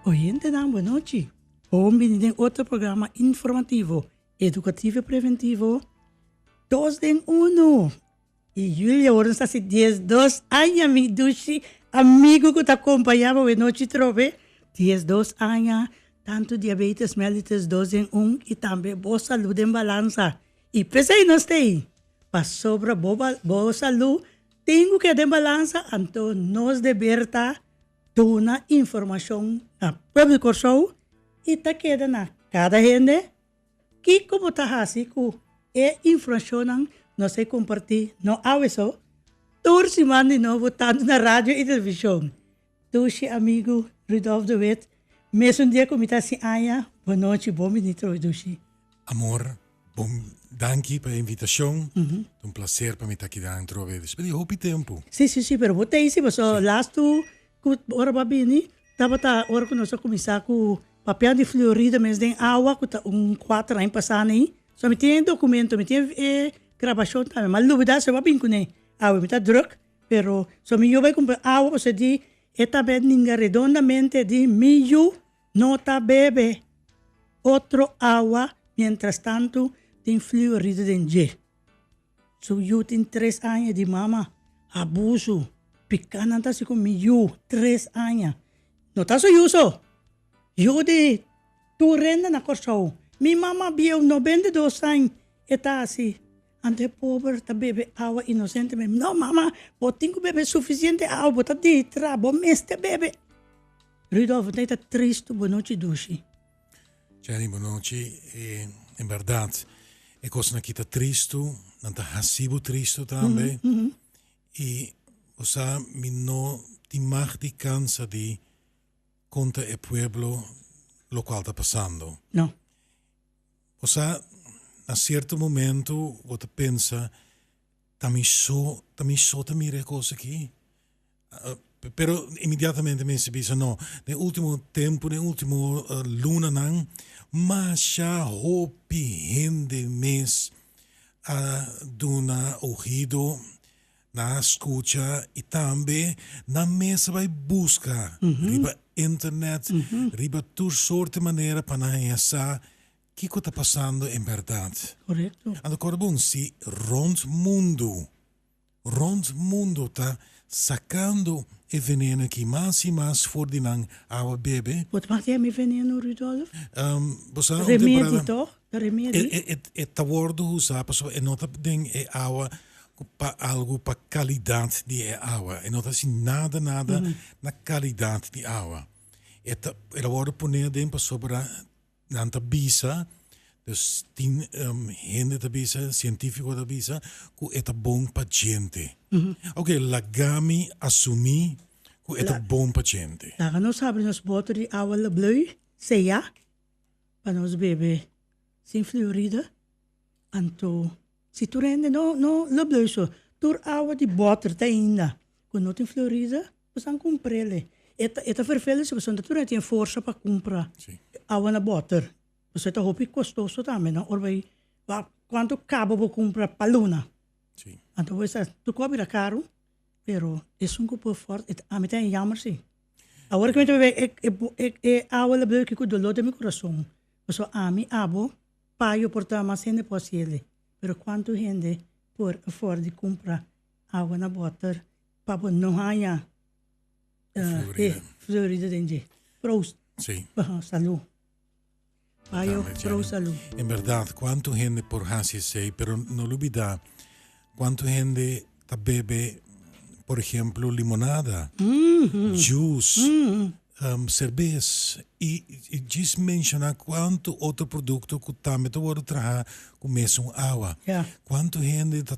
Oyentenan buenochi. Bon bini den otro programa informativo, educativo y preventivo Dos den Uno. Y Julia hoor nos ta haci dies dos aña mi dushi amigo cu ta acompaña bo e nochi trobe. Dies dos aña tanto diabetes mellitus dos den un y tambe bo salud den balanza y p'esey nos t'ey. Pasobra bo bo salú tin ku ke den balansa, anto nos deber ta duna informashon na pueblo di Kòrsou i ta keda na kada hende kiko bo ta hasi ku e infrashonnan nos a kompartí. No awe so, tur siman di nobo tantu na radio i televishon Dushi amigu Rudolf de Wit, mesun dia ku mi ta sin aña, bon nochi, bon bini troe Dushi. Amor, bon danki pa e invitashon, ta un plaser pa mi ta aki dan troe despues di hopi tempu. Si, si, si, pero bo ta hisi paso lastu ku ora bo a bini tabata ora ku nos a kuminsá ku papian di Florida mes den awa ku ta un kuater aña pasá na ahi, so mi tin e dokumentu, mi tin e grabashon tambe, mi a lubidá si bo a bin kuné, awe mi ta drùk Pero so mi yu bai cumpra awa ose di e ta be ninga redondamente di mi yu no ta bebe otro awa mientras tanto tin fluoride den dje. Su yu tin tres aña di mama abuso pica nan ta haci cu mi yu tres aña no ta su yu so yu di tur rende na Corsou mi mama bieu noventa y dos aña e ta haci Anto e pober ta bebe awa inosentemente. No, mama, bo tin ku bebe sufisiente awa, bo ta dihidrá, bo mester bebe. Rudolfo, ta tristu. Bonochi, Dushi. Jenny, bonochi. En bèrdat, e kosnan ki ta tristu, nan ta hasi bo tristu tambe. I bo sa, mi no tin mag di kansa di konta e pueblo lokual ta pasando. No. Bo sa, na cierto momento bo ta pensa, ta mi so, ta mi so ta mira e cos aki? Pero inmediatamente mester bisa no, den ultimo tempo, den ultimo lunanan, masha hopi hende mes a duna ogido. Nan a scucha y tambe nan mes a bay busca riba internet, riba tur soorten manera pa nan haya sa kico ta pasando en berdad. Correcto. Anto corda bon, si rond mundo, rond mundo ta sacando e veneno aki mas y mas for di nan awa bebe. Bo ta mati e mi veneno, Rudolf? Bo sa un temporada. Remedi toch? E ta wordo usa pasobra e no ta den e awa pa algu pa kalidat di e awa e no ta hasi nada nada na kalidat di awa e ta e ta wordo pone aden pasobra nan ta bisa dus tin hende ta bisa cientifiko ta bisa ku e ta bon pa djente ok laga mi asumi ku e ta bon pa djente. Laga nos habri nos boto di awa lëblë, sea. pa nos bebe sin fluoride anto si tur hende no no lo blùsho tur awa di bòter ta ainda ku no tin fluoride pues nan kumprele e ta e ta vervele si pasobra tur hende tin e forsa pa kumpra awa na bòter pasobra e ta hopi kostoso tambe no ora bai kuantu kaba bo kumpra pa luna anto bo bisa tur kos a bira karu. pero esun ku por fort e ta ami ta yammer si awor ku mi ta wea e awa lo bloi kiku dolor den mi kurason paso ami abo pa yo por ta mas hende por hasiele pero kuantu hende por afòrda di kumpra awa na bòter pa bo no haña florida den dje prou pa salu. Payo prou salú. En berdad cuanto hende por haci esey pero no lo bida cuanto hende ta bebe por ejemplo limonada, juice, cervez y djis menciona cuanto otro producto cu tambe ta wordo traha cu mesun awa. Cuanto hende ta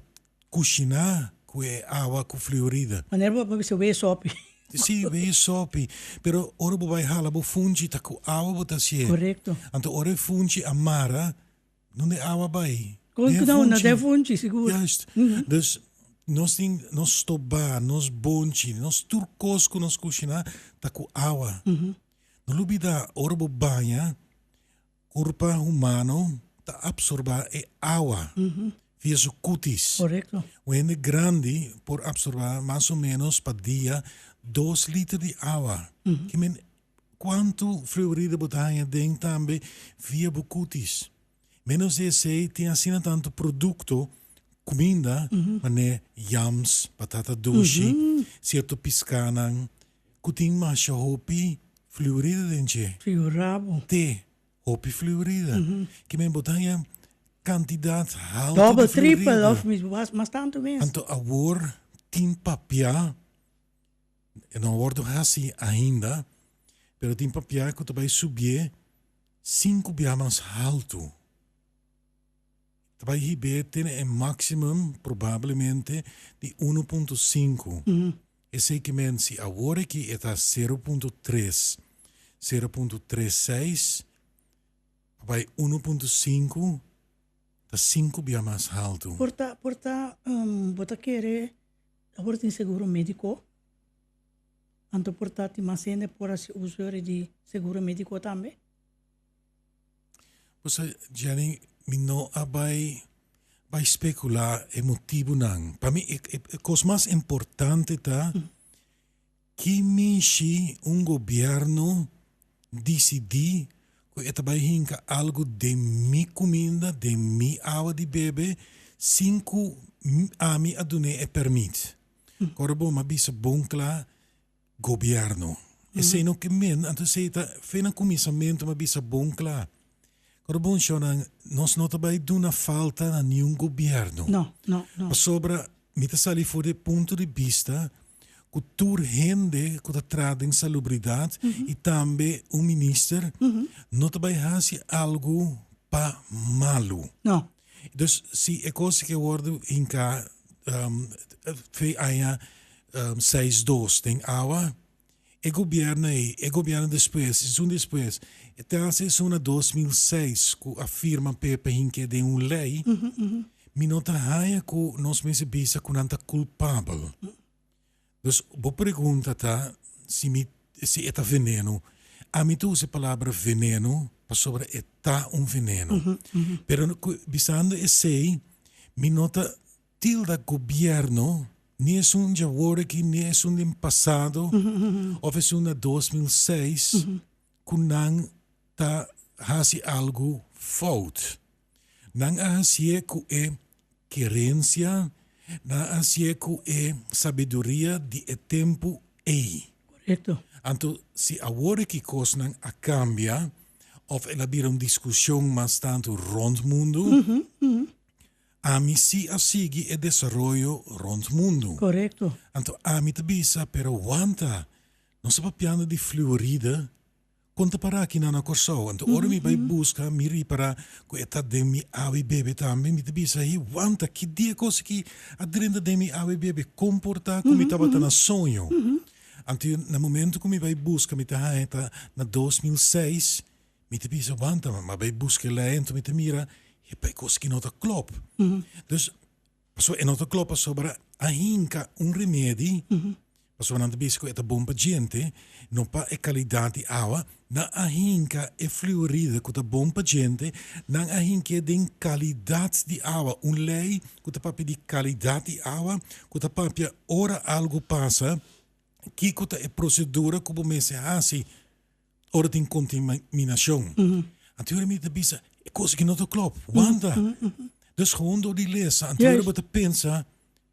Kushiná ku e awa ku fliorida. Manera bo a bisa wei sopi. Sí, wei sopi. Pero ora bo bai hala bo funchi ta ku awa bo ta hasié. Korekto. Anto ora e funchi a mara, nunde e awa bai? Den e funchi. Na den e funchi, sigur. Juist. Dus nos tin nos stobá, nos bonchi, nos tur kos ku nos kushiná ta ku awa. No lo bida ora bo baña, Kurpa humano ta apsorbá e awa via su kutis. Un hende grandi por apsorbá mas o ménos pa dia dos liter di awa. Ki men kuantu fluorida bo ta haña den tambe via bo kutis. Ménos di esei tin asina tantu produkto, kuminda, manera yams, batata dushi, sierto piskánan. Ku tin masha hopi fliurida den dje. Fliurabo. Te hopi fliurida. Ki men bo ta haña kantidat haltu di fliurida. Doble, tripel òf mismo mas, mas tantu mes. Anto awor tin papia, e no a wòrdu hasi ainda, pero tin papia ku ta bai subié sinku bia mas haltu. Ta bai hib'é te na e máksimum probablemente di uno punto sinku. Esei ke mensi awor aki e ta sero punto tres, sero punto tres seis pa bai uno punto sinku, ta sinku bia mas haltu. Por ta, por ta, bo ta kere awor tin seguro médiko, anto por ta tin mas hende por hasi uso yori di seguro médiko tambe? Busa Jenny mi no a bai bai speculá e motibunan. Pa mi e, e, e kos mas importante ta ki mishi un gobierno disidí ku e ta bai hinka algu den mi kuminda, den mi awa di bebe, sin ku m- ami a dun'é e permit. Kòrda bo mi a bisa bon kla, Gobierno. Esei no ke men, anto esei ta fe na kuminsamentu mi a bisa bon kla. Kor bon shònan, nos no ta bai duna falta na niun gobierno. No, no, no. Pasobra mi ta sali for di e punto di bista ku tur hende ku ta traha den salubridat i tambe un minister no ta bai hasi algu pa malu. No. Dus si e cos ke wordo hinká fe aña seis dos den awa e gobierno ei e gobierno despues esun despues te hace esun na dos mil seis ku a firma pepe hink'e den un lei mi no ta haña ku nos mester bisa ku nan ta culpabel. Dus bo pregunta ta si mi si e ta veneno. Ami ta usa e palabra veneno pasobra e ta un veneno. Pero bisando esei mi no ta tilda gobierno ni esun dje wor aki ni esun den pasado of esun na dos mil seis ku nan ta hasi algu fout. Nan a hasié ku e kerensia, nan a hasié ku e sabiduria di e tempu ei. Korekto. Anto si awor e kikosnan a kambia òf el a bira un diskushon mas tantu rònt mundu, ami si a sigui e desaroyo rònt mundu. Korekto. Anto ami ta bisa, Pero wanta, nos a papiando di fliorida Kon ta pará akinan na Kòrsou? Anto ora mi bai buska, mi ripará ku e ta den mi awe bebe tambe. Mi ta bisa, He wanta! Ki di e kos aki a drenta den mi awe bebe? Kon por ta ku mi tabata na soño? Anto na momentu ku mi bai buska mi ta haña ta na dos mil seis. Mi ta bisa, Wanta, mi bai buska e lei, anto mi ta mira e pa e kos aki no ta klop. Dus, Paso e no ta clop pasobra a hinca un remedi pasobra nan ta bizi cu e ta bon pa djente, no pa e calidad di awa, nan a hinca e fluoride cu ta bon pa djente, nan a hinc'e den calidad di awa, un ley cu ta papia di calidad di awa, cu ta papia ora algo pasa kico ta e procedura cu bo mester haci. ora tin contaminacion. Anteora mi ta bisa, e cos aki no ta clop, wanta? Dus gewoon door di lesa, anteora bo ta pensa,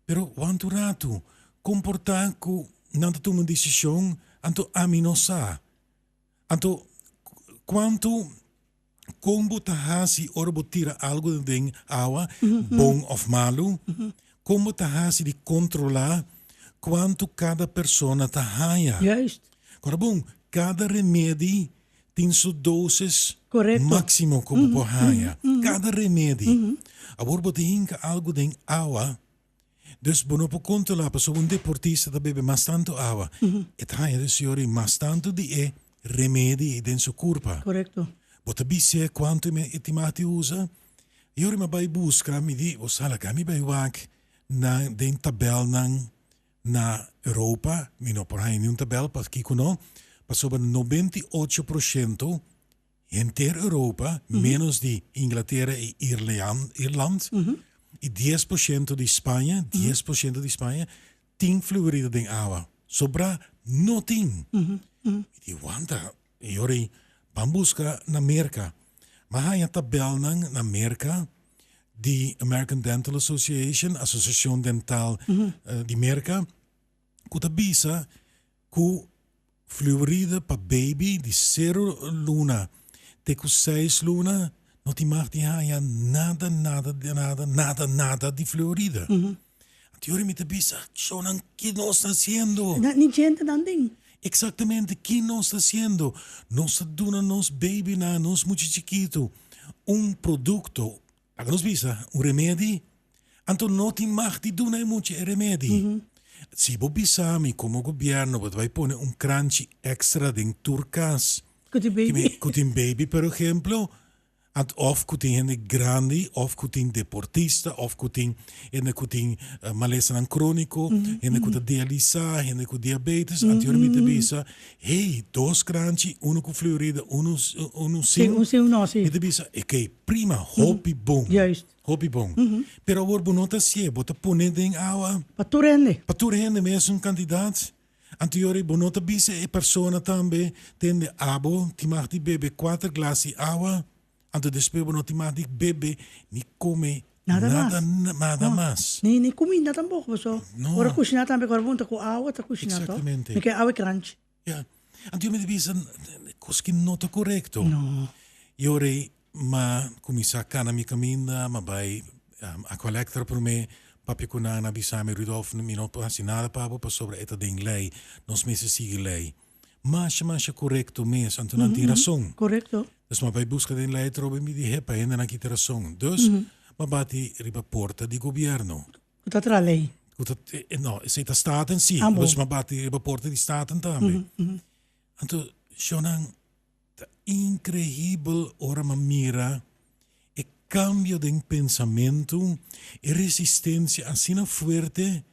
pero wanta un ratu, con por ta cu nan ta tuma un decision, anto ami no sa? Anto, cuanto. Kon bo ta hasi ora bo tira algu den awa, bon of malu? Kon bo ta hasi di kontrolá kuantu kada persona ta haña? Kora bon, kada remedi tin su dosis máksimo ku bo por haña. Kada remedi. Awor bo ta hinka algu den awa. Dus bo no por kontrolá pasobra un deportista ta bebe mas tantu awa, e ta haña den su yorin mas tantu di e remedi ei den su kurpa. Korekto. Bo ta bisié kuantu e tin mati usa? Yori mi a bai buska, mi di, o sala ka mi bai wak na den tabèlnan na Europa, mi no por haña niun tabèl, paskiko no? Pasobra nobenta i ocho proshentu Henter Europa, ménos di Inglatera i Irland, i dies por shento di Spaña, dies por shento di Spaña, tin fluorida den awa. Sobrá no tin. Mi di, Wanta, yori, ban buska na Merka. Ban haña tabèlnan na Merka di American Dental Association, Asosiashon Dental di Merka. ku ta bisa ku fluoride pa baby di sero luna te ku seis luna no tin mag di haña nada nada di nada nada nada di fluoride. Anto yori mi ta bisa, Cho nan ki nos ta hasiendo? Na ni djente nan tin. Exactamente ki nos ta hasiendo? Nos ta duna nos babynan, nos mucha chikitu un produkto, A ka nos bisa un remedi, anto no tin mag di duna e mucha e remedi. Si bo bisa mi komo gobièrnu bo ta bai pone un kranchi èkstra den tur kas Ku tin ki mi baby. ku tin baby per ehemplo, ant òf ku tin hende grandi òf ku tin deportista òf ku tin hende ku tin malesanan króniko, hende ku ta dialisá, hende ku diabetes, anteriormente mi ta bisa Hey, dos crunchy, uno cu fleurida, uno, uno sin. Sí, un sin un no, sí. Mi ta bisa, ok, prima, hopi bon. Juist. Hopi bon. Pero awor bo no ta sié, bo ta pone den awa. Pa tur hende. Pa tur hende, mesun cantidad. Anto yori bo no ta bisa e persona tambe, tende abo, ti mag di bebe cuater glas di awa. Anto despues bo no tin mas di bebe ni come Nada mas. nada na- nada No. mas. Ni ni cuminda tampoco, paso No. ora cushina tambe cu horapunta cu awa ta cushina to. Exactamente. Mi ke awa e cranchi. Ya. Anto yo mi ta bisa cos ki no ta corecto. No. Yo rei ma cuminsa cana mi caminda, ma bay a collector prome, papia cu nana a bisa mi, Rudolf mi no por haci nada pa bo pasobra e ta den ley, nos mester sigui ley. masha masha korekto mes, anto nan tin rason. Korekto. Dus mi a bai buska den lei atrobe i mi di hepa hendenan kita rason. Dus mi a bati riba porta di gobièrnu. Ku ta traha lei? Ku ta, no, esei ta staten si, pero dus mi a bati riba porta di staten tambe. Anto shònan Ta increibel ora m'a mira e cambio den pensamentu, e resistencia asina fuerte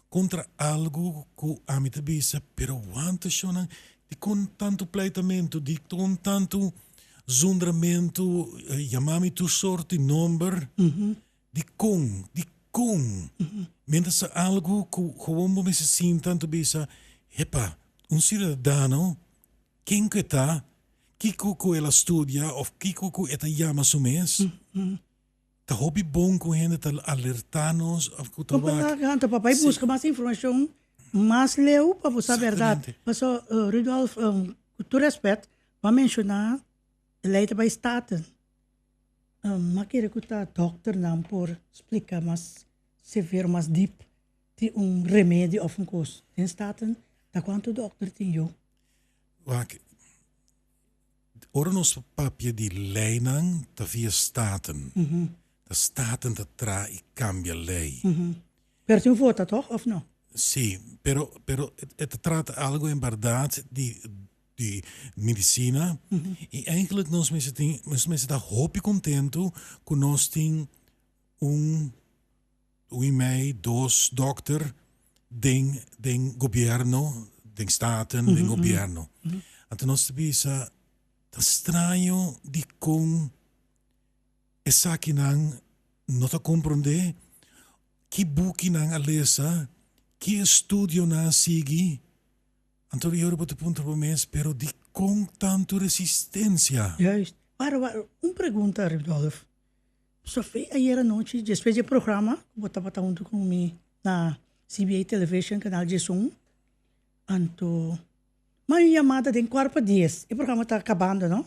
contra algo cu ami ta bisa, pero wanta shownan dicon tanto pleitamentu, dicon tanto zundramentu, yama mi tur soort di nomber, dicon, dicon, mientras ta algo cu gewoon bo mester sinta anto bisa, epa, un ciudadano Ken ku e ta, kiko ku el a studia òf kiko ku e ta yama su mes? Ta hopi bon ku un hende ta alertá nos òf ku ta wak. Anto papá e buska mas informashon mas leu pa bo sa bèrdat. Pastor Rudolf, ku tur rèspèt, bo a menshoná e lei ta bai staten. M'a kere ku ta dòkternan por splika mas severo, mas dip di un remedio òf un kos. Den staten ta kuantu dòkter tin yu? Wak, ora nos ta papia di leinan ta via staten. Ta staten ta traha i kambia lei. Pero tin vota toch of no? Si, pero pero e ta trata algo en bardad di di medicina i eindelijk nos mester tin nos mester ta hopi contento cu nos tin un Wimei dos dokter den den gobierno den staten den gobierno anto nos ta bisa ta straño dikon esaki nan no ta komprende ki buki nan a lesa ki estudio nan a sigui anto di ora bo ta puntra bo mes pero dikon tantu resistensia. Juist. Wara wara un pregunta Rudolf. Sofia, Ayer anochi despues di e programa ku bo tabata huntu ku mi na CBA Television kanal Diesun, anto mai un yamada den kuart pa dies, e programa ta kabando no,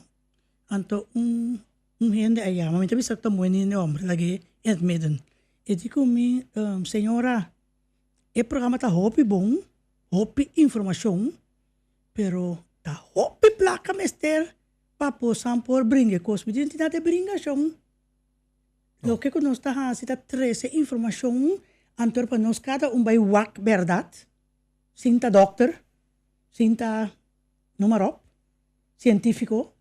anto un hende a yama, mi ta bisa ku ta muhe niño e homber lag'e Ed Midden, e di ku mi, Señora e programa ta hopi bon, hopi informashon pero ta hopi plaka mester. Pa bosan por bringa e cos bitin tin ta den bringacion. Loke cu nos ta haci ta trece informacion anto pa nos cada un bay wak berdad sin ta dokter, sin ta nomarop, cientifico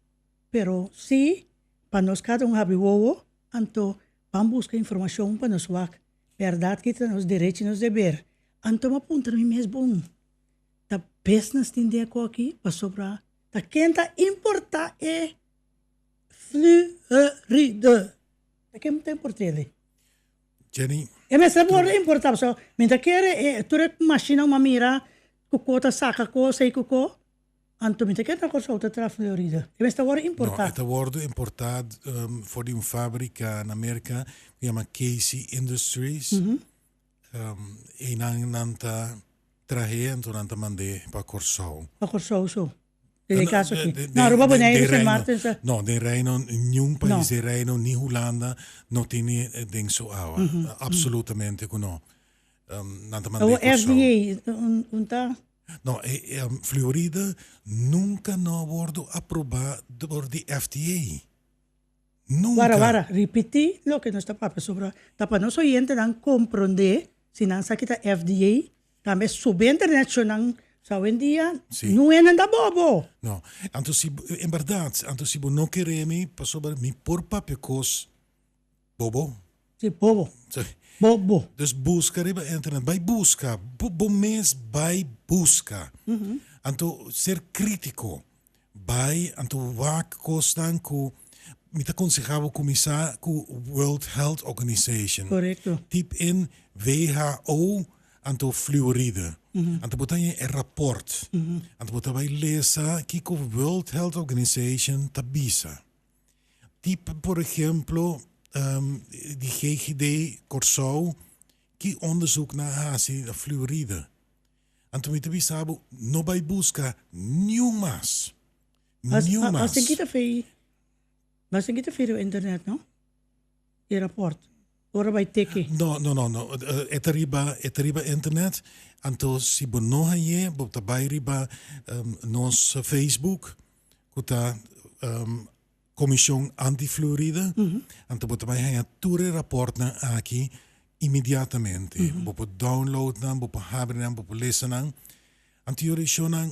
pero si pa nos cada un habri wowo anto ban busca informacion pa nos wak berdad ki ta nos derecho y nos deber. Anto m'apuntra mi mes bon ta besnas tin den e coki pasobra Ta ken ta importa e fluoride? Ta ken ta importa e li? Jenny. E mester por a importa pasobra mi ta kere e tur e mashina un a mira ku ko ta saka kos ei ku ko, anto mi ta kere na Kòrsou ta tra fluoride. E mester wòrdu importa? No, e ta wòrdu importa for di un fabrika na Merka ku yama Casey Industries. Einan nan ta trahe anto nan ta mand'é pa Kòrsou. Pa Kòrsou so. Den e kaso aki. Na Aruba Boneiru Sint Maarten sa. No, den Reino niun pais den Reino ni Hulanda no tin den su awa. Apsolutamente ku no. Nan ta mand'é Kòrsou. Awo FDA un ta? No, Fluoride nunka no a wordu aprobá dor di FDA. Wara wara, ripití loke nos ta papia sobra ta pa nos oyentenan komprondé si nan sa ki ta FDA, tambe subente reakshonnan. So awendia nuenan ta bobo. No, anto si, en bèrdat, anto si bo no keré mi pasobra mi por papia kos bobo? Si, bobo. Si. Bobo. Dus buska riba internet. Bai buska. Bo, bo mes bai buska. Anto ser crítico. Bai, anto wak cosnan cu mi ta aconseha bo cuminsa cu World Health Organization. Correcto. Typ in who anto fluoride. Anto bo ta haña e rapport. Anto bo ta bai lesa kico World Health Organization ta bisa. Tipo por ehemplo di GGD Kòrsou ki ondesuknan a hasi na Flurida. Anto mi ta bisa bo, no bai buska niun mas, niun mas. Mas ten kita fei, mas ten kita fei riba internet, no? e raport ora bai teke? No no no no e ta riba e ta riba internet anto si bo no haye bo ta bai riba nos facebook cu ta comision anti fluoride anto bo ta bai haya tur e raportnan aki inmediatamente bo por download nan bo por habri nan bo por lesanan anto yo risho nan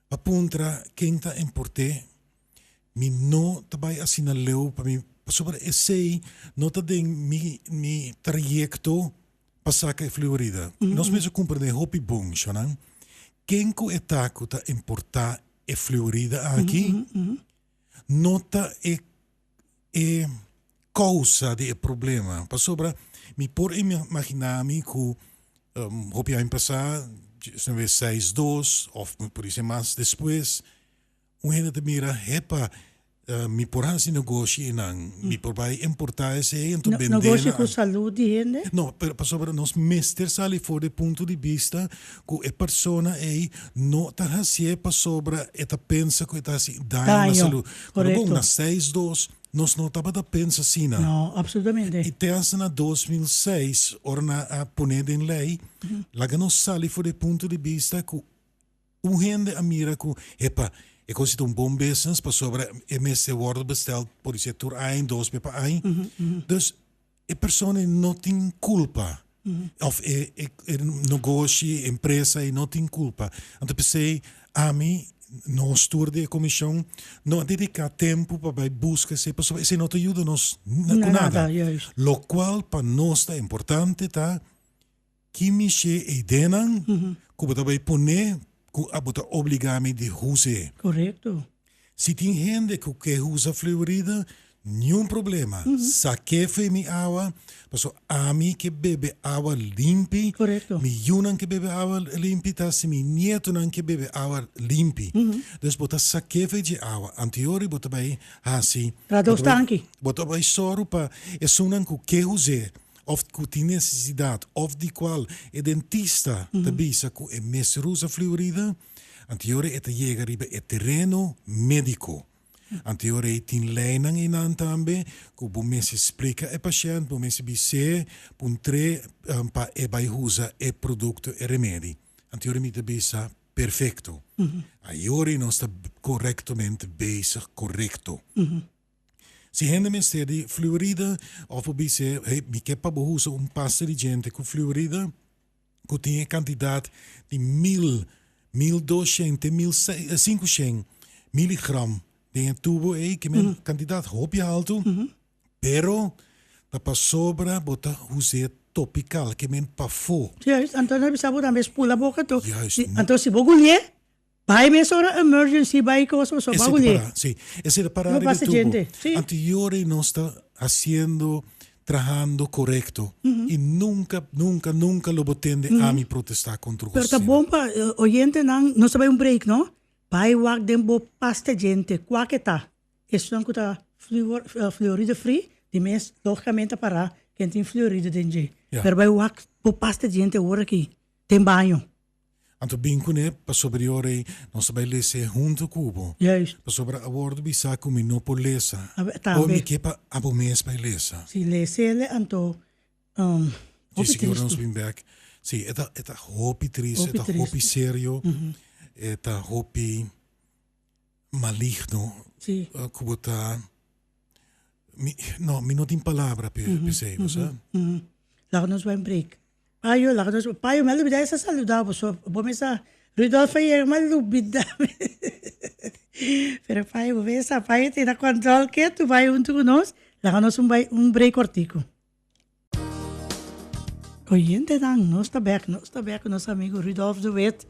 Pa puntra ken ta importe mi no ta bai asina leu pa mi pasobra esey no ta den mi mi trayecto pa saca e fluorida. Nos mes a comprende hopi bon shonan ken cu e ta cu ta importa e fluorida aki no ta e e causa di e problema pasobra mi por imagina mi cu hopi aña pasa esnan be seis dos of mi por dici mas despues un hende ta mira epa mi por haci negoshi enan mi por bay importa esey enton bende nan negoshi cu salud di hende no pero pasobra nos mester sali for di punto di bista ku e persona ei no ta hasié pasobra e ta pensa ku e ta hasi daño na salú. Pero bon, na seis dos nos no tabata pensa asina. I te hasta na dos mil seis, ora nan a pon'é den lei, laga nos sali for di e punto di bista ku un hende a mira ku, epa, e kos ei ta un bon business pasobra e mester wòrdu bestèl, por dici, tur aña dos be pa aña. Dus, E persona ei no tin culpa of e nogoshi, e empresa ei no tin culpa. Anto pesey ami, nos tur di e comision, no a dedica tempo pa bay busca esey pasobra esey no ta yuda nos cu nada. Locual pa nos ta importante ta. Ki mishé eidénan ku bo ta bai pon'é ku abo ta obligá mi di hus'é? Korekto. Si tin hende ku ke husa fluoride, niun problema. Sak'é f'é mi awa, paso ami ke bebe awa limpi, mi yunan ke bebe awa limpi, ta si mi nietonan ke bebe awa limpi. Dus bo ta sak'é f'é dje awa. Antior di bo ta bai hasi, bo ta bai sòru pa esunnan ku ke hus'é. òf ku tin nesesidat òf di kual e dentista ta bisa ku e mester usa fliorida, antior ei ta yega riba e tereno médiko. Antior ei tin leinan einan tambe ku bo mester splika e pashènt, bo mester bis'é puntr'é pa e bai usa e produkto, e remedi. Antior mi ta bisa perfekto. Ayori nos ta korektomente bezig korekto. Si hende mester di fluoride of por bis'é, Hey, mi ke pa bo usa un pasta di djente ku fluoride ku tin e kantidat di mil, mil dos shen te mil sei, sinku shen miligram den e tubo ei, ke men kantidat hopi altu, pero ta pasobra bo ta us'é topikal, ke men pafó. Juist, anto nan a bisa bo tambe spul na boka tu. Juist. Anto si bo guli'é. Bai mes ora emergency bai cos paso Esey te para, si. Esey ta para riba e tubo. Anterior ey nos ta haciendo, trahando corecto y nunca, nunca, nunca lo bo tende ami protesta contra José. Pero ta bon pa oyentenan, nos ta bai un break no, bai wak den bo pasta djente, cua ke ta, esunnan cu ta fluoride free di mes logicamente a para ken tin fluoride den dje, pero bai wak bo pasta djente ora aki den baño. Anto bin cu ne pa superior ey, nos ta bay lese hunto cu bo. Juist. Pasobra a wordo bisa cu mi no por lesa. Awe, tambe. Con mi ke pa abo mes bay lesa. Si lesele anto hopi tristo. Dje siñor nos bin bek. Si, e ta, e ta hopi tristo, e ta hopi serio, e ta hopi maligno. Si. Cu bo ta, mi, no, mi no tin palabra p'e, p'esey, bo sa. Laga nos bay un break. Payo laga nos bo payo mel lubida esa saludao boso bo mesa Rudolf aye mal lubida pero payo bo mesa payo tin na control ketu bay hunto cu nos laga nos un bay un break cortico. Oyentenan nos ta bek nos ta bek cu nos amigo Rudolf de wit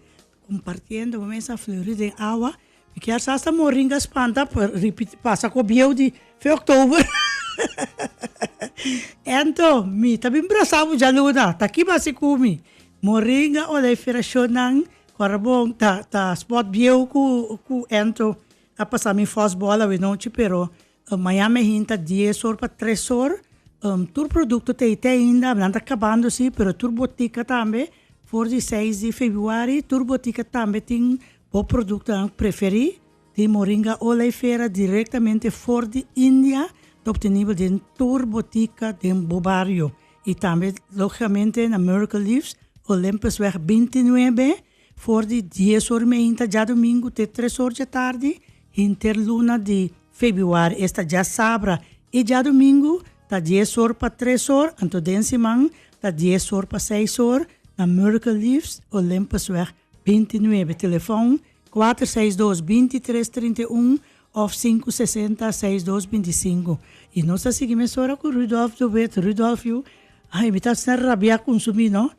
Compartiendo bo mesa fleurí den awa mi kier sa hasta moringa spanta pa repeat pasa cu obieu di fe october ento mi ta bin brasa bo djaluna ta kiba asi cu mi moringa ora e feracion nan corabon ta ta spot bieu cu cu ento a pasa mi fosbola we nochi pero Maña me hinta dies or pa tres or, tur produkto ta ei te ainda, nan ta kabando si, pero tur botika tambe, for di seis di febuari tur botika tambe tin bo produktonan preferí, tin moringa oleifera direktamente for di India, ta optenibel den tur botika den bo bario, i tambe lógicamente na Miracle Leaves, Olympusweg binti nuebe. For di dies or meinta djadumingu te tres or djatardi, hinter luna di febiuari esta dja sabra i djadumingu ta dies or pa tres or, anto den siman ta dies or pa seis or, na Miracle Leaves, Olympusweg binti nuebe, telefon kuater seis dos binti tres trinta i un òf sinku sesenta seis dos binti sinku. I nos ta sigui mesora ku Rudolf de Wit, Rudolf yu, ai mi ta asina rabiá ku un sumí no.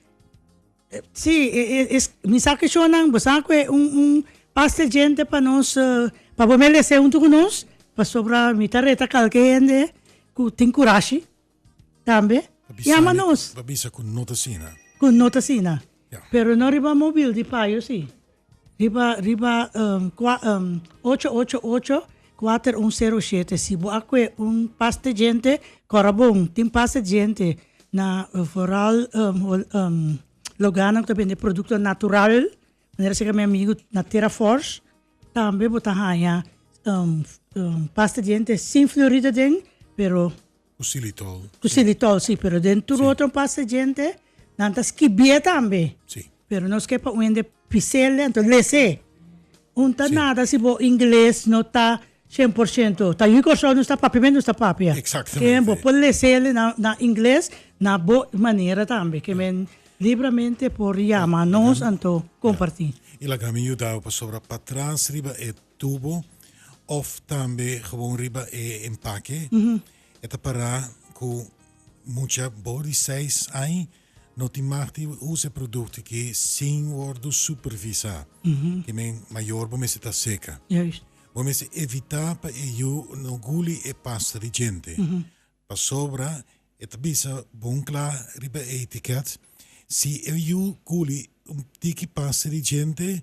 Sí, mi sa ke shownan, bo sa ku e un pasta djente pa nos, pa bo me lese huntu ku nos, pasobra mi ta reta kalke hende ku tin kurashi tambe yama nos. Pa bisa ku no ta asina. Ku no ta asina. Pero no riba mobil di payo si. Riba riba kua ocho ocho ocho kuater un sero shete si bo a kue un pas te djente kòrda bon tin pas te djente na foral loga nan ku ta bende produkto natural manera seka mi amigu na tera fòrs tambe bo ta haña pas te djente sin florida den pero Ku silitol. Ku silitol si pero den tur otro pasta djente nan ta skibié tambe pero nos ke pa un hende pisel den to lesé un ta nada si bo ingles no ta shen por shento ta yu Kòrsou nos ta papia me nos ta papia ke bo por lesé na ingles na bo manera tambe ke men libramente por yama nos anto komparti. I laga mi yudau pasobra patras riba e. tubo of tambe gewoon riba e empake e ta para cu mucha boven di seis aña no tin mag di usa e producto aki sin wordo supervisa ke men mayor bo mester ta seca bo mester evita pa e yu no guli e pasta di djente pasobra e ta bisa bon cla riba e etiket si e yu guli un tiki pasta di djente.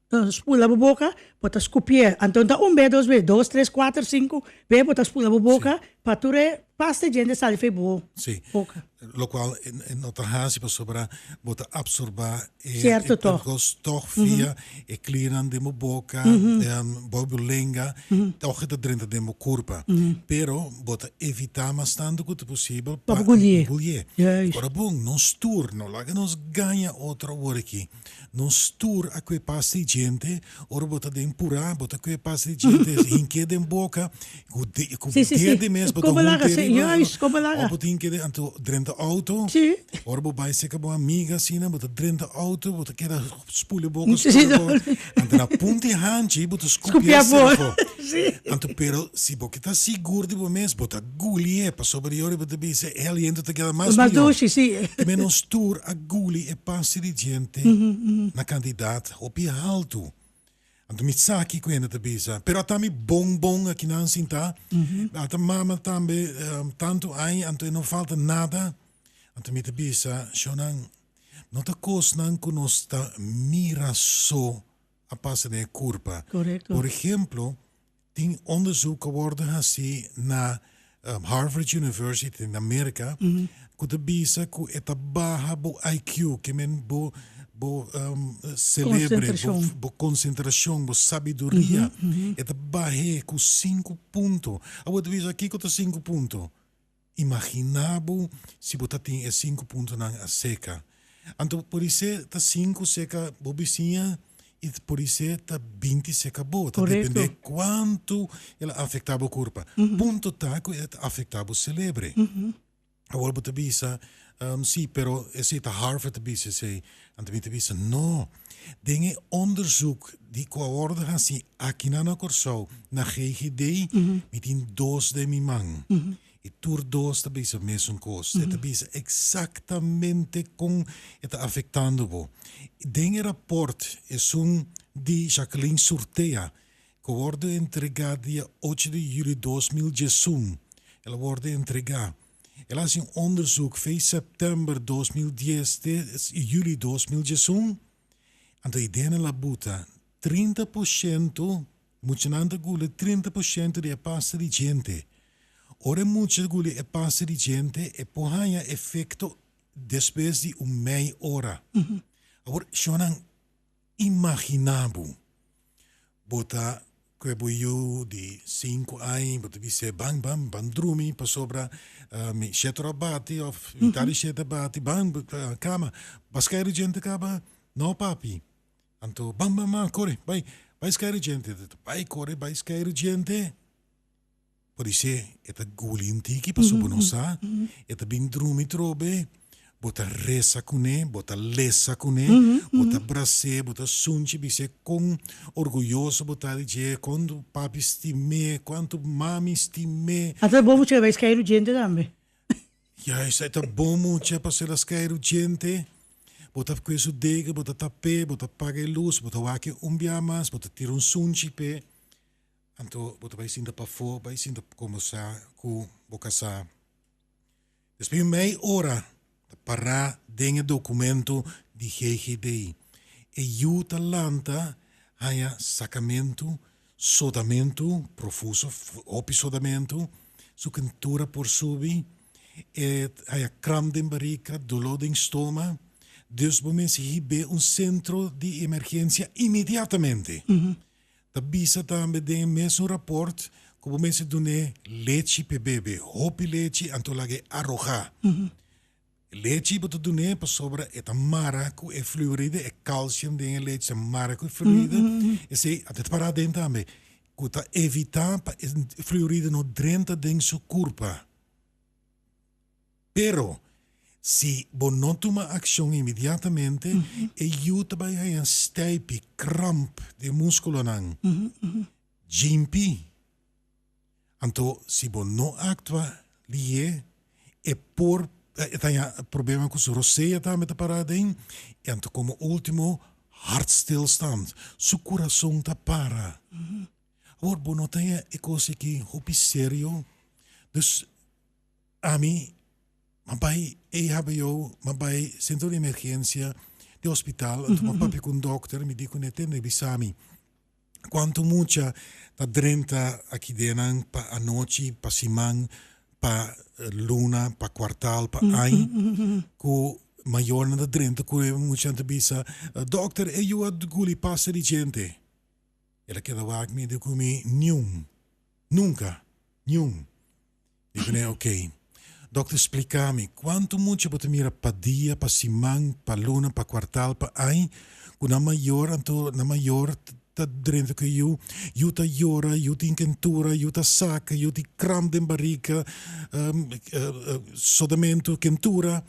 Ta spula bo boca, bo ta scupié. Anto ta un be, dos be, dos, tres, cuater, cinco be bo ta spula bo boca pa tur e pasta e djente sali fei bo boca. Locual e no ta haci pasobra bo ta absorba e percos tog via e clinan den bo boca, bo bo lenga, tog e ta drenta den bo curpa. Pero bo ta evita mas tanto cu ta posibel pa no gulié. Ora bon, nos tur no laga nos gaña otro awor aki. Nos tur a kue pas di djente, ora bo ta den purá, bo ta kue pas di djente, hink'é den boka, ku dede mes bo ta hunti riba, òf bo ta hink'é den anto drenta outo, ora bo bai seka bo amiga asina, bo ta drenta outo, bo ta keda spul'e boka, spul'e boka. Anto na punta e hanchi bo ta skupié sabó. Anto pero si bo ke ta sigur di bo mes, bo ta gulié pasobra di ora bo ta bisa e aliento ta keda mas mihó. Te ménos tur a guli e pasti di djente na kantidat hopi haltu. Anto mi sa kiko hende ta bisa. Pero ata mi bon bon aki nan sintá, a ta mama tambe tantu aña anto e no falta nada. Anto mi ta bisa, Shownan, No ta kosnan ku nos ta mira so a pasa den e kurpa. Por ehemplo, tin onderzoek ku a wòrdu hasí na Harvard University na Merka ku ta bisa ku e ta baha bo IQ, ke men bo bo selebre, bo konsentrashon, bo sabiduria, e ta bah'é ku sinku punto. Awor ta bisa, kiko ta sinku punto? Imaginá bo si bo ta tin e sinku puntonan aseka. Anto por di ser ta sinku seka bo bisiña i por di ser ta binti seka bo. Ta dependé kuantu el a afektá bo kurpa. Punto ta ku el ta afektá bo selebre. Awor bo ta bisa. Um, sí, pero esei ta Harvard ta bisa esei. Anto mi ta bisa, no, den e onderzoek di cu a wordo haci akinan na Corsou, na GGD, mi tin dos den mi man. Y tur dos ta bisa mesun cos. E ta bisa exactamente con e ta afectando bo. Den e rapport esun di Jacqueline Surtea, cu a wordo entrega dia ocho di juli dos mil diesun, el a wordo entrega. El hasi un onderzoek fei september dos mil dies te juli dos mil diesun, anto e ideanan la buta, trinta por shento, muchanan ta guli trinta por shento di e pasta di djente. Ora e mucha ta guli e pasta di djente e por haña efecto despues di un mei ora. Awor, shonnan Imaginá bo, bo ta ku e bo yu di sinku aña, bo ta bis'é, Ban, ban, ban drumi, pasobra mi shèter a bati òf mi tari shèt a bati, ban kama, ba skai Regente kaba? Nò, papi. Anto, ban, ban, ban, kore, bai, bai skai Regente. Bai kore bai skai Regente. Por dise e ta guli un tiki paso bo no sa, e ta bin drumi trobe, bo ta resa kune, bo ta lesa kune, bo ta brase, bo ta sunchi bis'e kon orguyoso bo ta di dje, kon papi stim'e, kuantu mami stim'e. A ta bon mucha e bai skai rujente tambe. Ya esaki ta bon mucha pa sela skai rujente, bo ta kue su dega, bo ta tap'e, bo ta paga e lus, bo ta wak e un bia mas, bo ta tira un sunchi p'e. Anto bo ta bai sinta pafó, bai sinta pa komosá ku bo kasá. Despues di un mei ora ta pará den e dokumentu di GGD. E yu ta lanta haña sakamentu, sodamentu profuso, hopi sodamentu, su kentura por subi, e ta haña kramp den barika, doló den stoma, dus bo mester hib'é un sentro di emergensia inmediatamente. Ta bisa tambe den e mesun raport ku bo mester dun'é lechi p'e bebe, hopi lechi anto lag'é arohá. E lechi bo ta dun'é pasobra e ta mara ku e fluoride, e kalsium den e lechi ta mara ku e fluoride, esei a ta pará aden tambe, ku ta evitá pa e fluoride no drenta den su kurpa. Pero, si bo no tuma akshon inmediatamente, e yu ta bai haña stijpi, kramp, di e múskulonan, jimpí. Anto si bo no aktua li'é, e por e ta haña problema ku su rosea tambe ta pará aden, i anto komo último, hartstilstand, su kurason ta para. Awor, bo no ta haña e kos aki hopi serio, dus. Ami a bai ehbo, a bai centro di emergencia di hospital a tuma papia cu un dokter mi di cu ne tende bisa mi cuantu mucha ta drenta aki den nan pa anochi, pa siman, pa luna, pa cuartal, pa aña cu mayornan ta drenta cu e muchanan ta bisa dokter e yu a guli pasta di chente el a keda wak mi a di cu mi niun, nunca, niun. I Benee, Ok. Dokter, spliká mi, kuantu mucha bo ta mira pa dia, pa siman, pa luna, pa kuartal, pa añ, ku nan mayor, anto nan mayor ta drenta ku yu, yu ta yora, yu tin kentura, yu ta saka, yu tin kramp den barika, sodamentu, kentura?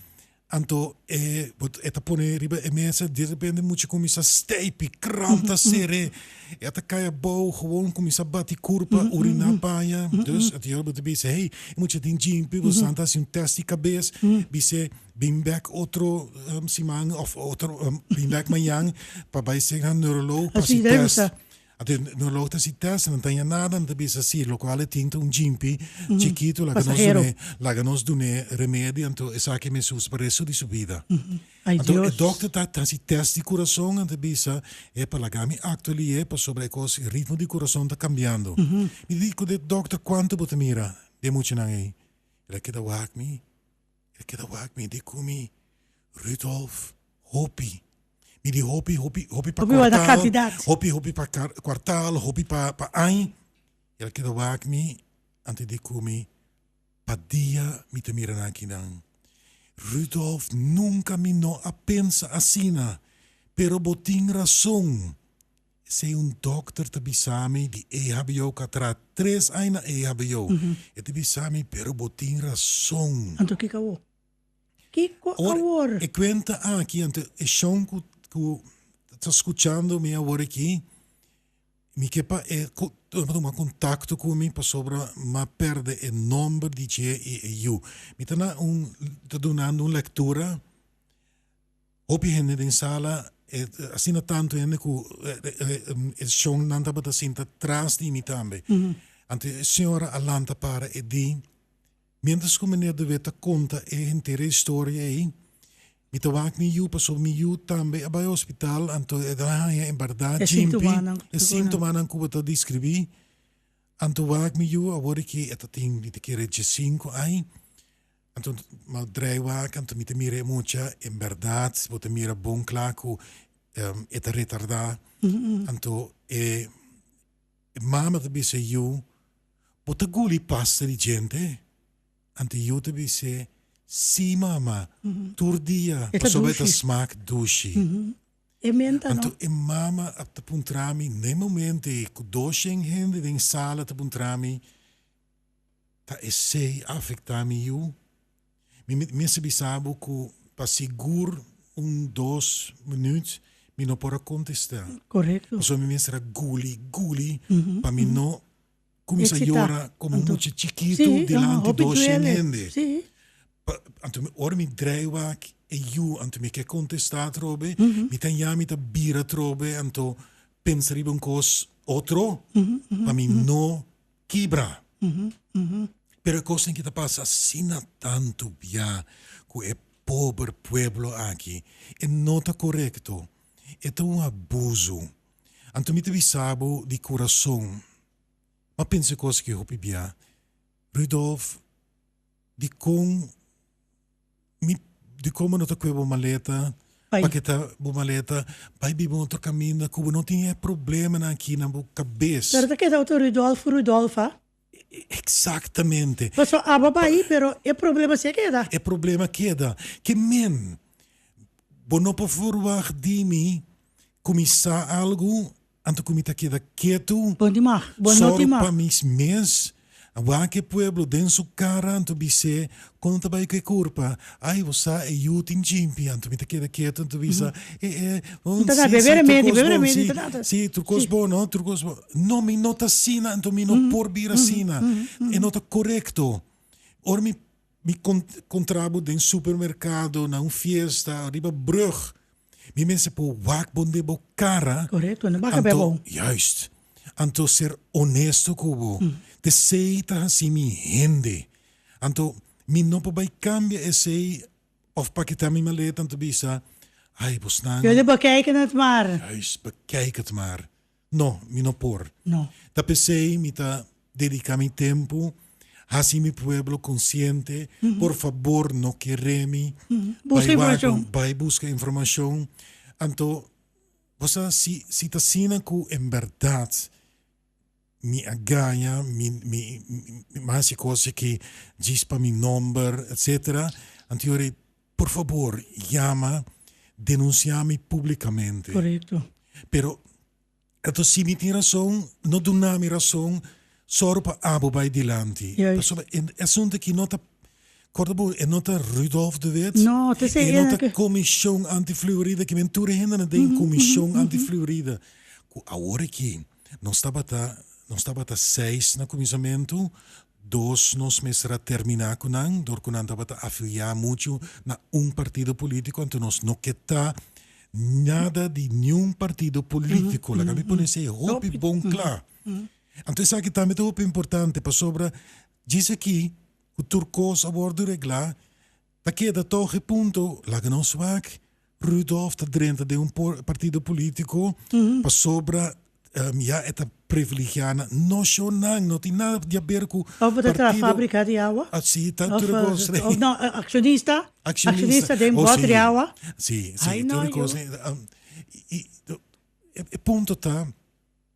Anto e but e ta pone riba e mesa derepente mucha cominsa steipi krant ta sere e a ta cai abou gewoon cominsa bati curpa urina paña dus e señor but a bisa hey e mucha tin jinpi bo san ta haci un test di cabes bis'e bin bek otro siman of otro bin bek mañan pa bai seg na neurolog pa haci test Anto no lo ta si test nan taña nada nan ta bisa si locual e tin ta un jimpi chikito laga nos dun'e laga nos dun'e remedio anto esaki mester usa pa resto di su bida anto e dokter ta ta si test di kurason nan ta bisa epa laga mi akto ali'e pasobra e kos e ritmo di kurason ta kambiando mi ta di ku de dokter kuantu bo ta mira de muchanan ei el a keda wak mi. E keda wak mi di ku mi Rudolf hopi. Mi di hopi, hopi, hopi pa kuartal, hopi, hopi pa kuartal, hopi pa aña. El a keda wak mi antes di ku mi pa dia mi ta mira nan kinan. Rudolf, nunka mi no a pensa asina, pero bo tin rason. Esei un dokter ta bisa mi di EHBO ku a traha tres aña na EHBO. E ta bisa mi, Pero bo tin rason. Anto kiko awor? Kiko awor? E kuenta aki, anto e shon ku ku ta skuchando mi awor aki, mi ke pa e tuma kontakto ku mi pasobra m'a pèrdè e nòmber di dje i e yu. Mi ta na un, ta dunando un lektura. Hopi hende den sala, e asina tantu hende ku e shon nan tabata sinta tras di mi tambe. Anto e señora a lanta para e di, miéntras ku meneer De Wit ta konta e henter historia ei, mi ta wak mi yu pasobra mi yu tambe a bai hospital, anto e ta haña en bèrdat djimpi e síntomanan ku bo ta deskribí. Anto wak mi yu, awor i ke e ta tin, mi ta kere, djesinku ai. Anto ma drei wak anto mi ta mira e mucha en berdad si bo ta mira bon kla ku e ta retardá anto e mama ta bis'é yu bo ta guli pasta di djente anto yu ta bis'é si mama tur dia pasobra e ta smak dushi anto e mama ap ta puntra mi na e momente ku dos shen hende den sala ta puntra mi. ta esey a afectá mi yu? Mi mit mester bisa bo cu pa sigur un dos minuut mi no por a contestá. Correcto. Pasobra mi mester a guli, guli pa mi no cuminsa Excitá. yora como un Anto. mucha chikitu Sí, dilanti ajá, hopi dos, shen duele. hende. Sí. Pa, anto mi, ora mi draai wak e yu, anto mi ke contestá atrobe, mi ta ya, mi ta bira atrobe, anto pensa riba un cos otro pa mi no Kibra. Pero e kosnan aki ta pasa asina tantu bia ku e pober pueblo aki. E no ta korekto. E ta un abuzu. Anto mi ta bisa bo di kurason, m'a pensa e kos aki hopi bia. Rudolf. Dikon mi dikon bo no ta kue bo maleta Pai. pa kita bo maleta bai biba un otro kaminda ku bo no tin e problemanan aki na bo kabes. Pero ta keda otro Rudolfo Rudolfa. Eksaktamente. Paso aba bai pero e problema si'a keda. E problema keda. Ke men bo no por forwag di mi ku mi sa algu Anto cu mi ta keda ketu. Bo di mag, bo no di mag. Soro pa mi mes. Wak e pueblo den su cara anto bis'é, Con ta bay cu e curpa? Ay, bo sa e yu tin djimpi. Anto mi ta keda ketu, anto bisa, Eh, eh, bon, si, si, trucos bon, si, si, trucos bon, no, trucos bon. No, mi no ta asina, anto mi no por bira asina. E no ta corecto. Ora mi Mi kontrá bo den supermerkado, na un fiesta, riba brùg. Mi mester por wak bo den bo kara. Korekto, no baka p'e abou. Anto, juist. Anto ser onesto ku bo. P'esei ta hasi mi hende. Anto, mi no por bai kambia esei òf pa kita mi maleta anto bisa, Ai, bosnan. Yo di, Bekijk het maar. Juist, bekijk het maar. No, mi no por. No. Ta p'esei mi ta dediká mi tempu hasi mi pueblo konsiente, por fabor no keré mi bai wagu, bai buska informashon. Anto bo sa si si ta asina ku en bèrdat mi a gaña, mi mi mi a hasi kosnan ki djis pa mi nòmber, etsetera, anto yori Por fabor yama denuncia mi publicamente. Corecto. Pero ato si mi tin razon no duna mi razon sor pa abo bay dilanti. Juist. Pasobra e asunto aki no ta corda bo e no ta Rudolph de Wit. No, ta esey e no ena ta ke. comision anti fluorida ke men tur e hende na den comision anti fluorida cu awor aki nos tabata nos tabata seis na cuminsamentu Dos nos mester a terminá ku nan dor ku nan tabata afiliá muchu na un partido polítiko anto nos no ke ta nada di niun partido polítiko laga mi pone esei hopi bon kla anto esaki tambe ta hopi importante pasobra djis aki ku tur kos a wòrdu reglá Ta keda toch e punto, laga nou swak, Rudolph ta drenta den un partido politico pasobra ya e ta privilegia na nocionnan, no tin nada di haber cu partido. Of ta traha fabrica di awa. Si, ta tur e cos rei. Of no, accionista, accionista den bot di awa. Si, si, tur e cos rei. E punto ta.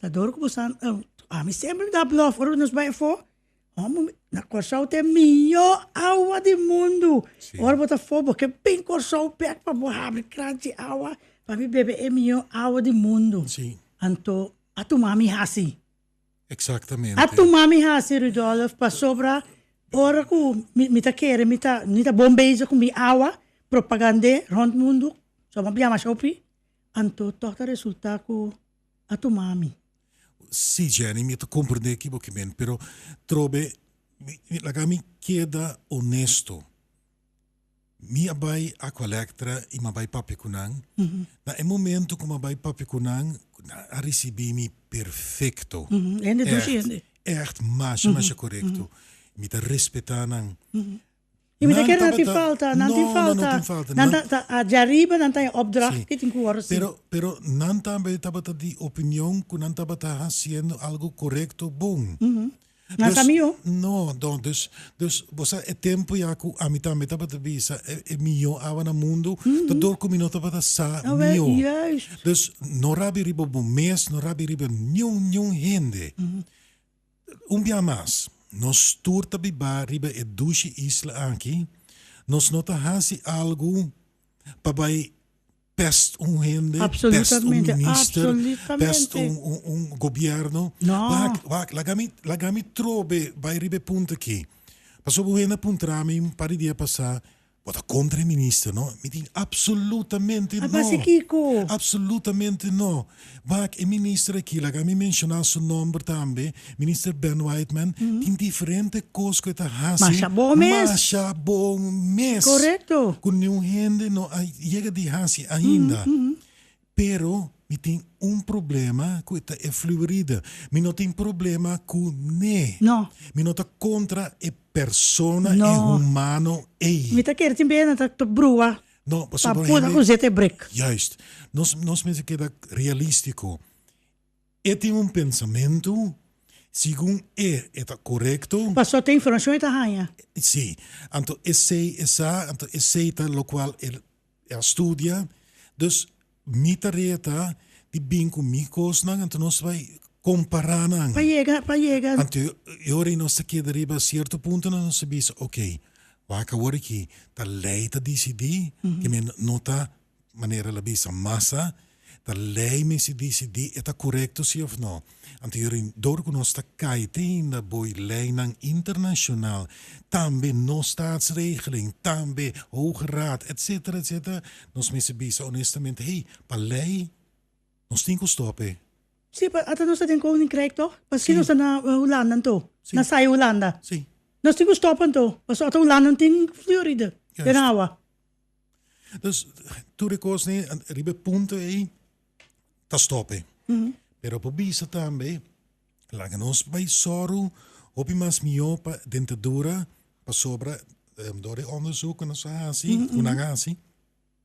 Ta dor ku bo sa, ami semper mi ta blòf ora nos bai afó, homo na Kòrsou ta e mihó awa di mundu, ora bo ta afó bo ke bin Kòrsou bèk pa bo habri krant di awa pa mi bebe e mihó awa di mundu, anto a tuma mi hasi, a tuma mi hasi Rudolf pasobra ora ku mi ta kere mi ta mi ta bon bezig ku mi awa propagand'é rònt mundu, sòmòr biaha masha hopi, anto tòg ta resultá ku a tuma mi. Sí Jenny mi ta comprende kibo ki men pero trobe laga mi keda honesto mi a bay aqualectra y mi a bay papia cu nan na e momento cu mi a bay papia cu nan nan a ricibi mi perfecto echt echt masha masha corecto mi ta respeta nan Y mi ta kere nan tin falta, nan tin falta, nan ta, ta, a dje ariba nan ta en opdracht ku tin ku wòrdu sin. Pero, pero nan tambe tabata di opinion ku nan tabata hasiendo algu korekto, bon. Nan sa mihó? No, no, dus, dus bo sa e tempu ya ku ami tambe tabata bisa e, e mihó awa na mundu ta dor ku mi no tabata sa mihó. Awèl, juist. Dus no rabia riba bo mes, no rabia riba niun, niun hende. Un bia mas, nos tur ta bibá riba e dushi isla aki, nos no ta hasi algu pa bai pèst un hende, pèst un minister, pèst un gobièrnu. Wak, wak, laga mi, laga mi trobe bai riba e punto aki. Pasobra un hende a puntra mi un par di dia pasá, Bo ta kontra e minister, no? Mi tin, Apsolutamente no! A base kiko? Apsolutamente no! Wak, e minister aki, laga mi menshoná su nòmber tambe, Minister Ben Whiteman, tin diferente kos ku e ta hasi. Masha bon mes! Masha bon mes! Korekto! Ku niun hende no a yega di hasi ainda. Pero mi tin un problema cu e ta e fluoride. Mi no tin problema cu ne. No. Mi no ta contra e persona, e No. humano ey. Mi ta kere tin beye nan ta brua No, pasobra pa puda hende, coseta e break. juist, nos, nos mester keda realistico. E tin un pensamento, segun e, e ta corecto, Paso ta informacion e ta haya. si, anto esey, esa, anto esey ta locual e E a studia, dus mi tarea ta di bin ku mi kosnan anto nos bai kompará nan. Pa yega, pa yega. Anto e ora ei nos ta keda riba sierto punto nan nos ta bisa, oke, wak awor aki ta lei ta disidí, ke men no ta, manera el a bisa, masa Ta lei mester disidí e ta korekto si òf no. Anteriorem dor ku nos ta kai te hinda boi leinan internashonal, tambe nos staatsregeling, tambe Hoge Raad, etsetera, etsetera, nos mester bisa onestamente, hey, pa lei nos tin ku stòp e. Sí, pa ata nos ta den Koninkrijk to? Paskí nos ta na Hulanda anto? Na sai Hulanda? Sí. Nos tin ku stòp anto? Paso ata Hulanda no tin flioridë den awa. Dus tur e kos ne riba e punto ei ta stop'e. Pero por bisa tambe laga nos bai sòru hopi mas mihó pa dentadura pasobra dor di onderzoek ku nos a hasi, ku nan a hasi,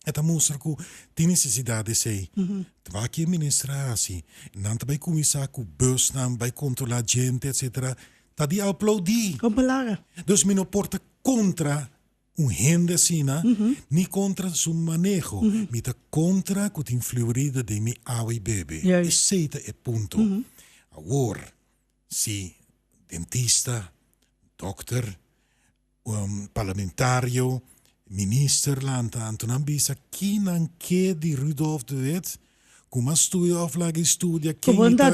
e ta mustra ku tin nesesidat di esei. Wak e minister a hasi, nan ta bai kuminsá ku busnan, bai kontrolá djente, etsetera, ta di aplaudí. Kòm pa laga. Dus mi no por ta kontra Un hende asina ni kontra su maneho, mi ta kontra ku tin fluorida den mi awa i bebe. Esei ta e punto. Awor, si dentista, dòkter, parlamentario, minister lantahan tur nan bisa ki nan ke di Rudolf de Wit, ku mas studia òf laga i studia ken i ta,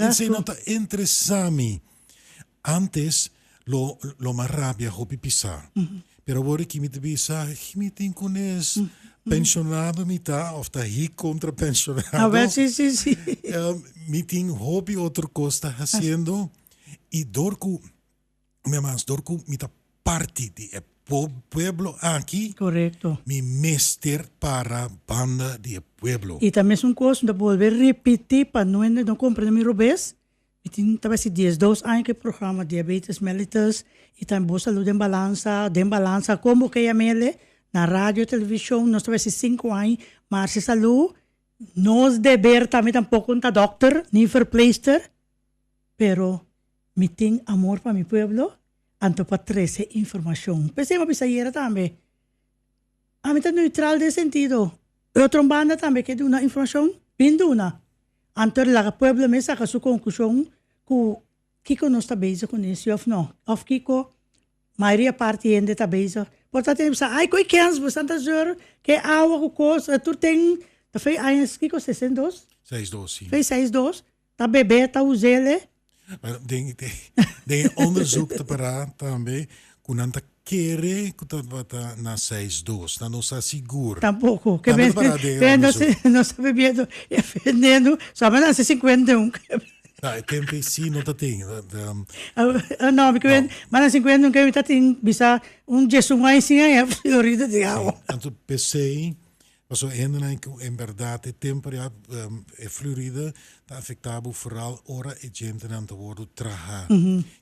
esei no ta interesá mi. Antes lo lo mas rabia hopi pisá pero awor aki mi ta bisa aki mi tin ku nes penshonado mi ta of ta hik kontra penshonado mi tin hopi otro kos ta hasiendo i dor ku una mas dor ku mi ta parti di e pueblo aki mi mester para banda di e pueblo. I ta mesun kos mi ta bolbe ripití pa no hende no kompra mi robes. Mi tin ta besi dies dos aña ku e programa Diabetes Mellitus i tambe Bo Salud den Balansa, Den Balansa kon bo keia mele, na radio, televishon, nos ta besi sinku aña, maar si salú, nos deber ta, mi tampoko no ta dòkter ni verpleegster, pero mi tin amor pa mi pueblo, anto pa trese informashon. P'esei mi a bisa ayera tambe. Ami ta neutral den sentido. E otro banda tambe ke duna informashon, bin duna. Anto laga pueblo mes saka su konklushon ku kiko nos ta bezig ku nan, si òf nò, òf kiko mayoria parti hende ta bezig. Por ta tene bisa, ai koe kèns bo estan ta zòrr, ke awa ku kos, tur ten, ta fei aña, kiko? Sesen dos? Seis dos, si. Fei seis dos. Ta bebe ta uzel e? Bueno, den den den e onderzoek ta para tambe ku nan ta kere ku tabata na seis dos. Nan no sa sigur. Tampoco. Ke Tambe ta para den e bende nos onderzoek. e nos ta bebiendo e veneno sa men hace cincuenta y un ke be. No, e tempe si no ta tin. Awe no mi ke No. men hace cincuenta y un ke mi ta tin bisa un diesun aña sin haña florido di awa. Si, anto p'esei Pasobra hendenan ku en bèrdat e temper ya e flurida ta afektá bo foral ora e djentenan ta wòrdu trahá.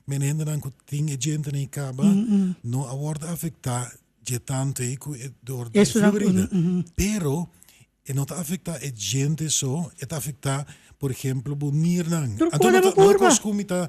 Mene hendenan ku tin e djentenan i kaba no a wòrdu afektá dje tantu ei ku e dor di e flurida. Pero e no ta afektá e djente so, e ta afektá, por ehempel, bo nirnan. Anto no ta kos ku mi ta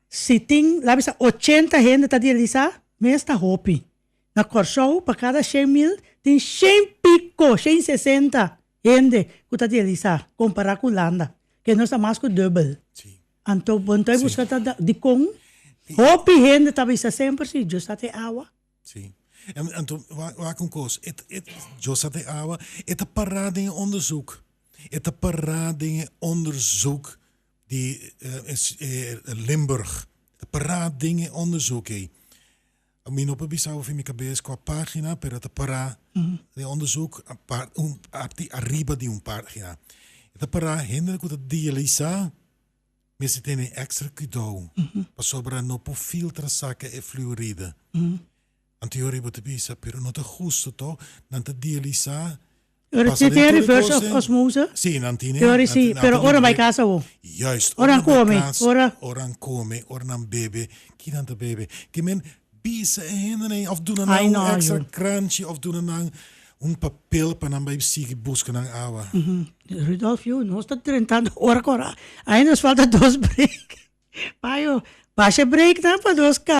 Si tin labi sa ochenta hende ta dialisá, mes ta hopi. Na Kòrsou, pa kada shen mil, tin shen piko, shen i sesenta, hende ku ta dialisá, kompará ku Hulanda, ke nos ta mas ku dùbel. Anto bo ta buska ta dikon hopi hende ta bisa semper si Dios a te awa? Sí. Anto, wak un kos. Dios a te awa, e ta pará den e òndersùk. E ta pará den e òndersùk. di Limburg a pará den e onderzoek ei. Mi no por bisa hopi mi kabes kua pagina pero ta pará den e onderzoek un parti ariba di un pagina. E ta pará hende ku ta dialisá mester tene ekstra kudou pasobra no por filtra saka e fluoride. Antiori bo ta bisa, pero no ta husto to. Nan ta dialisá. Lo resete e reverse of osmose. Sí, nan tine. Teori sí, pero ora bai casa bo. Juist, ora nan bai casa. Ora nan come, ora. Ora nan come, ora nan bebe, ki nan ta bebe? Ki men bisa e hende nei of duna nan un extra kranchi of duna nan un papel pa nan bai sigui buska nan awa? Rudolf, yu nos ta drentando ora ku ora. Ai nos falta dos break. Payo, basha e break nan pa nos ka.